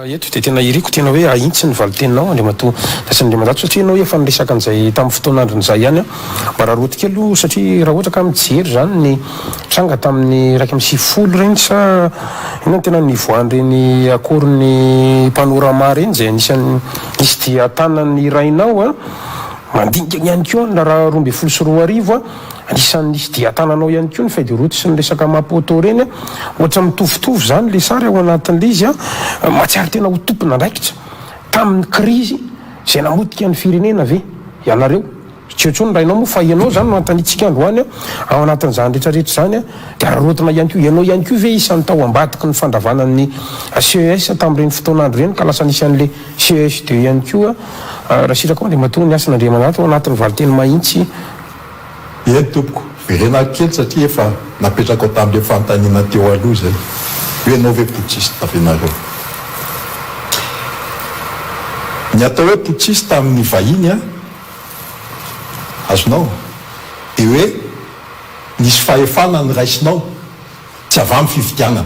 eto dia tena iriko tena hoe ahitsy ny valiteninao Andriamatoa Rasinandriamanjato satria ianao efa niresaka an'izay tamin'ny fotoana andron'izay ihany aho mba rarotiko kely aloha satria raha ohatra ka mijery izany ny tranga tamin'ny iraika amby sivifolo ireny sa inona no tena nivoahan'ireny akoron'ny panorama ireny izay anisan'ny nisy dia tanan'ny rainao a Mandinika ny ihany koa ny raharaha roa ambin'ny folo sy roa arivo, anisan'ny nisy dian-tanana ao ihany koa ny feuille de route sy ny resaka Maputo ireny, ohatra mitovitovy izany ilay sary ao anatin'ilay izy, mahatsiaro tena ho tompon'andraikitra tamin'ny krizy izay namotika ny firenena ve ianareo? tsy eo intsony ny rainao moa fa ianao izany no anontaniantsika androany, ao anatin'izany rehetra rehetra izany dia araraotina ihany koa ianao ihany koa ve isan'ny tao ambadiky ny fandravana ny ces tamin'ireny fotoan'andro ireny ka lasa nisy an'ilay CESD ihany koa raha sitraka ao Andriamatoa ny asan' Andriamananty ao anatin'ny valinteny mahintsy. Eny tompoko, verenako kely satria efa napetrakao tamin'ireo fanontaniana teo aloha izay, hoe ianao ve putschiste ve ianareo? Ny atao hoe putschiste amin'ny vahiny an, azonao, dia hoe nisy fahefana niraisinao, tsy avy amin'ny fifidianana.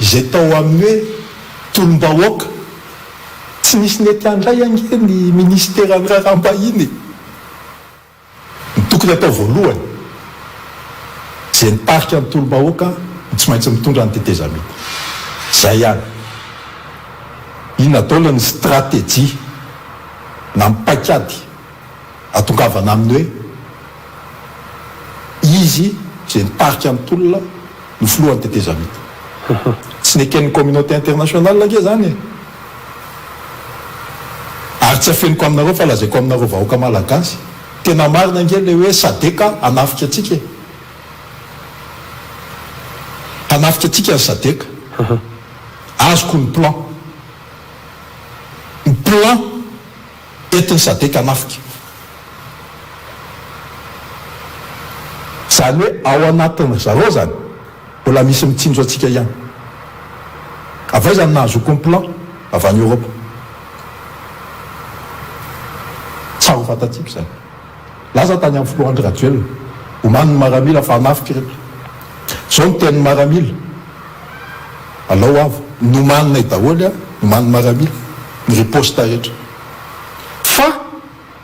Izay tao amin'ny hoe tolom-bahoaka, tsy nisy nety handray ange ny minisiteran'ny raharaham-bahiny e! Ny tokony atao voalohany, izay nitarika ny tolom-bahoaka no tsy maintsy mitondra ny tetezamita. Izay ihany. Inona daholo ny stratejia na ny paikady Atongavana amin'ny hoe izy izay nitarika ny tolona no filohan'ny tetezamita. Tsy neken'ny communauté internationale ange izany e! Ary tsy afeniko aminareo fa lazaiko aminareo vahoaka malagasy, tena marina ange ilay hoe sadc hanafika antsika e! Hanafika antsika ny sadc. Azoko ny plan. Ny plan! eto ny sadc hanafika. Izany hoe ao anatin ry zareo izany mbola misy mitsinjo antsika ihany. Avy aiza ny nahazoako ny plan? Avy any Europe. Tsara ho fantatsika izany. Nilaza tany amin'ny filoha Andry Rajoelina, omaly, ny maramila fa hanafika ireto. Izao no tenin'ny maramila, Alao avo, nomaninay daholo, nomanin'ny maramila, ny riposta rehetra. Fa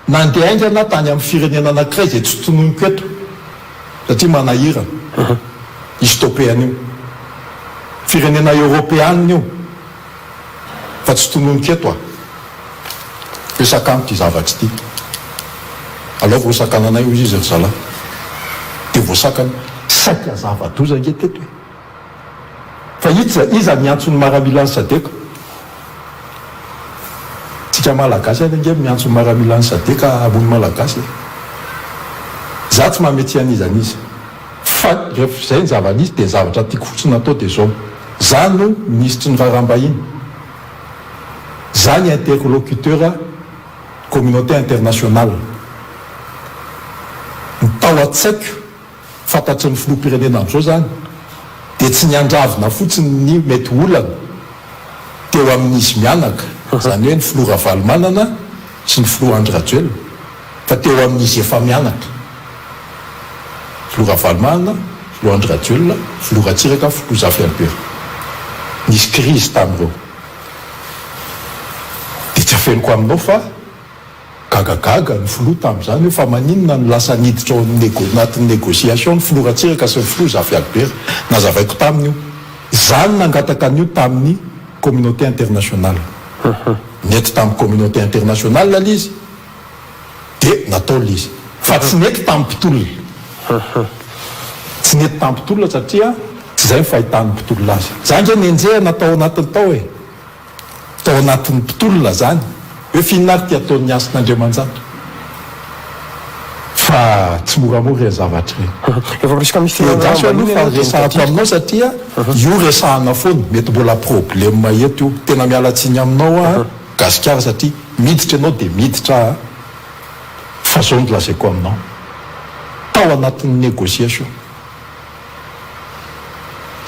nandeha haingana tany amin'ny firenena anankiray izay tsy tononiko eto satria manahirana. I Stopeana io. Firenena eoropeana io. fa tsy tononiko eto a! Hoe sakano ity zavatra ity, alao vao hosakananay hoy izy ry zalahy. Dia voasakana. Saika zava-doza ange teto e! Fa iza iza no hiantso ny maramila an'i Sadc? Tsika Malagasy ihany ange no miantso ny maramila an'i Sadc hamono Malagasy e! Za tsy mametsiha an'iza an'iza. Fa ref zay ny zava nisy dia ny zavatra tiako fotsiny atao dia zao, za no minisitry ny raharaham-bahiny, za ny interlocuteur communauté internationale, ny tao an-tsaiko fantatry ny filoham-pirenena amzao zany dia tsy ny handravona fotsiny ny mety olana teo amin'izy mianaka, zany hoe ny filoha Ravalomanana sy ny filoha Andry Rajoelina, Fa teo amin'izy efa-mianaka, Filoha Ravalomanana, Filoha Andry Rajoelina, Filoha Ratsiraka, Filoha Zafy Albert, nisy krizy tamin'ireo. Dia tsy afeniko aminao fa gagagaga ny Filoha tamin'izany hoe fa maninona no lasa niditra ao amin'ny nego, anatin'ny négociation ny Filoha Ratsiraka sy ny Filoha Zafy Albert. Nazavaiko taminy io. Izaho no nangataka an'io tamin'ny communauté internationale. Nety tamin'ny communauté internationale ilay izy. Dia natao ilay izy. Fa tsy nety tamin'ny mpitolona. Tsy nety tamin'ny mpitolona satria tsy izay ny fahitan'ny mpitolona azy. Za ange nenjehina tao anatiny tao e! Tao anatin'ny mpitolona izany hoe f'inona ary ity ataon'ny hasin'Andriamanjato. Fa tsy moramora ireny zavatra ireny. Efa presque misy fihaonana ambany iny ianao dia midadasika. Enga tsy ho resahako aminao satria io resahana foana. Mety mbola problème eto io. Tena miala tsiny aminao aho. Gasikara satria miditra ianao dia miditra aho fa zao no lazaiko aminao tao anatin'ny negociation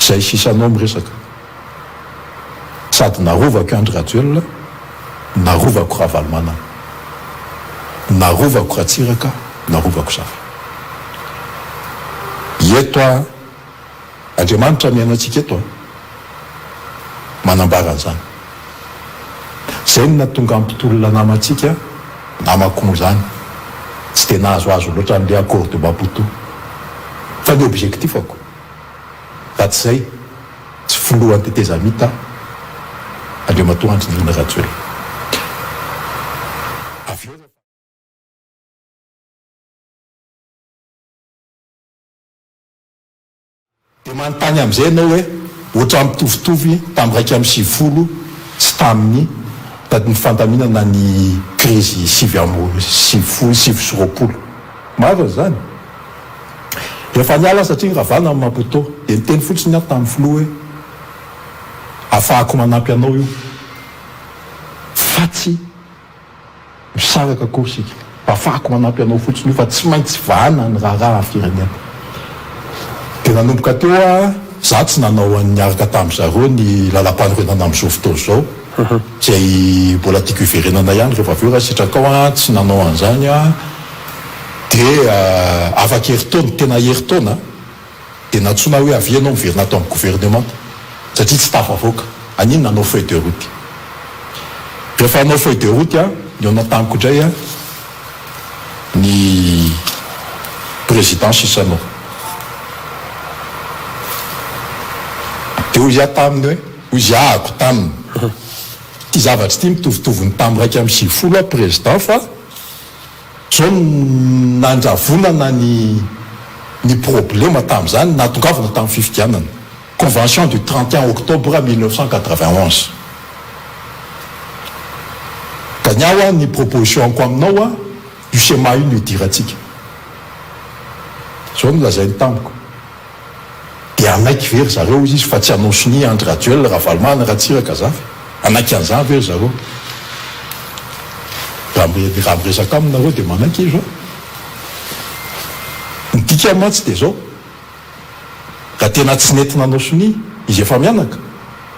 zay sisa anao miresaka sady narovako i Andry Rajoelina narovako Ravalomanana narovako Ratsiraka narovako Zafy eto aho Andriamanitra mihaino antsika eto an! Manambara an'izany. Izay no nahatonga an'i Mpitolona namantsika, namako moa izany, tsy dia nahazoazo loatra an'ilay accord de Maputo. Fa ny objectif-ako, raha tsy izay, tsy filohan'ny tetezamita Andriamatoa Andry Nirina Rajoelina. Dia manontany amin'izay ianao hoe, Ohatran'ny mitovitovy ny tamin'ny iraika amby sivifolo sy tamin'ny ny fandaminana ny krizy sivy amby sivifolo, sivy sy roapolo. Marina izany. Efa niala satria niravana ny Maputo. Dia niteny fotsiny aho tamin'ny filoha hoe, Afahako manampy anao io, fa tsy Misaraka akory isika. Afahako manampy anao fotsiny io fa tsy maintsy vahana ny raharaha firenena. Dia nanomboka teo aho, izaho tsy nanao an'ny niaraka tamin-dry zareo ny lalam-panorenana amin'izao fotoana izao, izay mbola tiako hiverenana ihany rehefa avy eo raha sitrakao an, tsy nanao an'izany aho dia afaka herintaona, tena herintaona. Dia nantsoina hoe avia ianao miverina ato amin'ny governemanta satria tsy tafavoaka. An'inona? Hanao feuille de route. Rehefa hanao feuille de route aho, ny ao an-taniko indray ny président sisa no. Dia hoy aho taminy hoe, hoy izy ahako taminy, ity zavatra ity mitovitovy ny tamin'ny iraika amby sivifolo aho président fa. Zao no nandravonana ny ny problema tamin'izany, nahatongavana tamin'ny fifidianana, convention du trente et un octobre mille neuf cent quatre-vingt onze. Ka ny ahy hoa ny proposition-ko aminao hoa, io schéma io no idirantsika. Zao no lazainy tamiko. Dia hanaiky ve ry zareo hoy izy fa tsy hanao sonia Andry Rajoelina, Ravalomanana, Ratsiraka za ve? Hanaiky an'izany ve ry zareo? Raha miresaka aminy nareo dia manaiky izy hoe ny dikany mantsy dia izao, raha tena tsy nety nanao sonia izy efa mianaka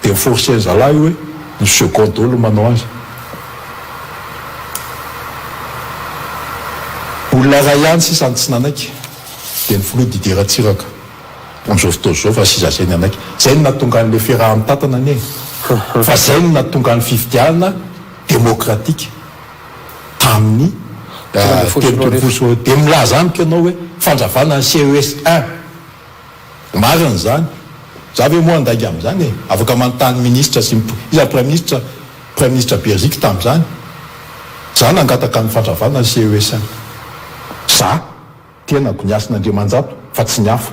dia ny forcer ny zalahy hoe ny second daholo no manao azy. Olona iray ihany sisa no tsy nanaiky. Dia ny filoha Didier Ratsiraka, bonjour fotoa zao fa sisa zay ny anaiky, zay no nahatonga anle firaha mitantana anie e! Fa zay no nahatonga ny fifidianana demokratika tamin'ny telopolo ambin'ny folo sy roa arivo, dia milaza amiko ianao hoe fandravana ny CES un, marina izany, za ve moa handainga amin'izany e! Afaka manontany ministra sy ny, iza ny praiminisitra, praiminisitra Berziky tamin'izany, za nangataka ny fandravana ny CES un, za. Tenako ny hasin' Andriamanjato fa tsy ny hafa.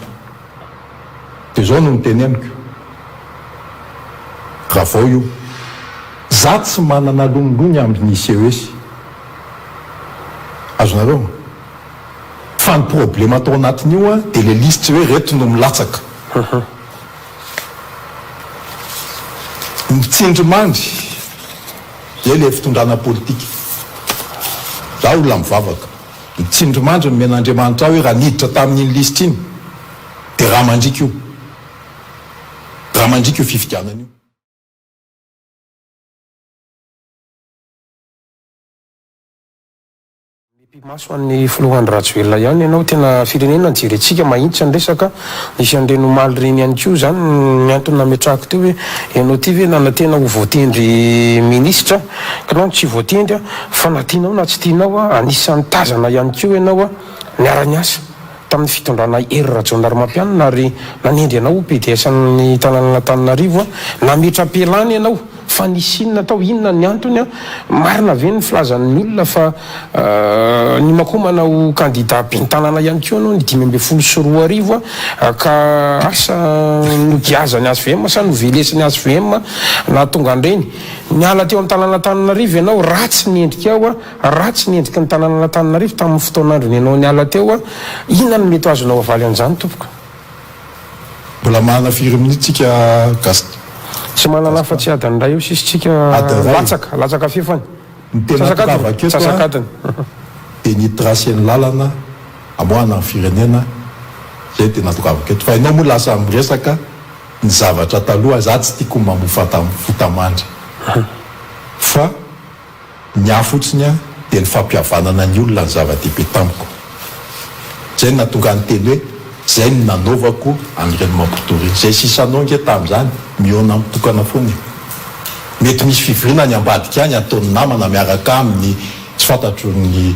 Dia izao no niteneniko, raha vao io, za tsy manana lonilony amby ny CES, azonareo? Fa ny problema atao anatin'io an, dia le lisitry hoe reto no milatsaka. Mitsindrimandry dia le fitondrana politika. Za olona mivavaka. Nitsindrimandry ny men'Andriamanitra ahy hoe raha niditra tamin'iny lisitra iny dia raha mandriaka io raha mandriaka io fifidianana io. Mipi-maso an'i Filoha Andry Rajoelina ihany ianao. Tena firenena jerentsika mahitsy ny resaka. Nisy an'ireny omaly ireny ihany koa. Izany ny antony nametrahako teo hoe ianao ity ve nanantena ho voatendry minisitra? Kinao no tsy voatendry a! Fa na tianao na tsy tianao a, anisan'ny tazana ihany koa ianao a! Niara-niasa tamin'ny fitondranay Hery Rajaonarimampianina ary nanendry anao ho PDS ny tanànan'Antananarivo a! Nametra-pialana ianao fa nisy inona tao? Inona ny antony a? Marina ve ny filazan'ny olona fa nimakomana ho kandida ben'ny tanàna ihany koa ianao ny dimy ambin'ny folo sy roa arivo a! Ka asa nogiazan'ny hvm sa novelesiny hvm a? Nahatonga an'ireny? Niala teo amin'ny tanàn'Antananarivo ianao, ratsy ny endrikao, ratsy ny endriky ny tanànan'Antananarivo tamin'ny fotoan'androny ianao niala teo, inona no mety ho azonao avaly an'izany tompoko? Mbola manana firy minutes tsika Gaston? Tsy manana afa tsy adiny iray eo sisa tsika, latsaka, latsaka fefany, antsasak'adiny. Dia ny hitracer ny lalana hamoahana ny firenena, izay dia natokavako eto, fa ianao moa lasa miresaka. Ny zavatra taloha za tsy tiako mamofata fota mandry fa ny ahy fotsiny a dia ny fampihavanana ny olona no zava-dehibe tamiko zay no nahatonga ahy niteny hoe zay no nanaovako an'ireny mampitoriana zay sisa anao nge tamin'izany mihaona amin'ny tokana foana e mety misy fivoriana any ambadika any ataon'ny namana miaraka aminy tsy fantatro ny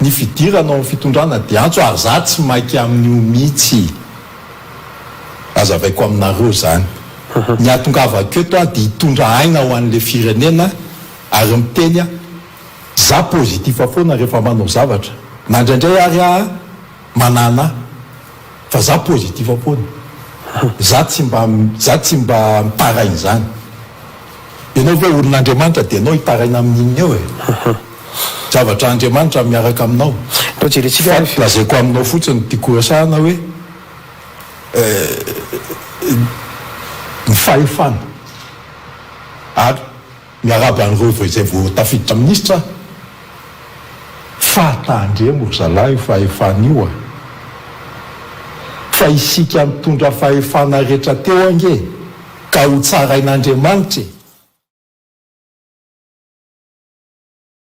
ny fidirana ao amin'ny fitondrana dia antso ary za tsy maika amin'io mitsy azavaiko aminareo zany ny atongavako eto aho dia hitondra aina ho an'le firenena ary miteny aho za positif foana rehefa manao zavatra na indraindray ary aho Manana fa za positif foana za tsy mba za tsy mba mitaraina zany enao ve olona Andriamanitra de enao hitaraina amin inona eo e zavatra Andriamanitra miaraka aminao fa lazaiko aminao fotsiny tiako horesahana hoe ny fahefana ary Miarahaba an'ireo vao izay vao tafiditra minisitra aho. Fahatahan-dremo ry zalahy io fahefana io a! Fa isika nitondra fahefana rehetra teo ange ka hotsarain'Andriamanitra e!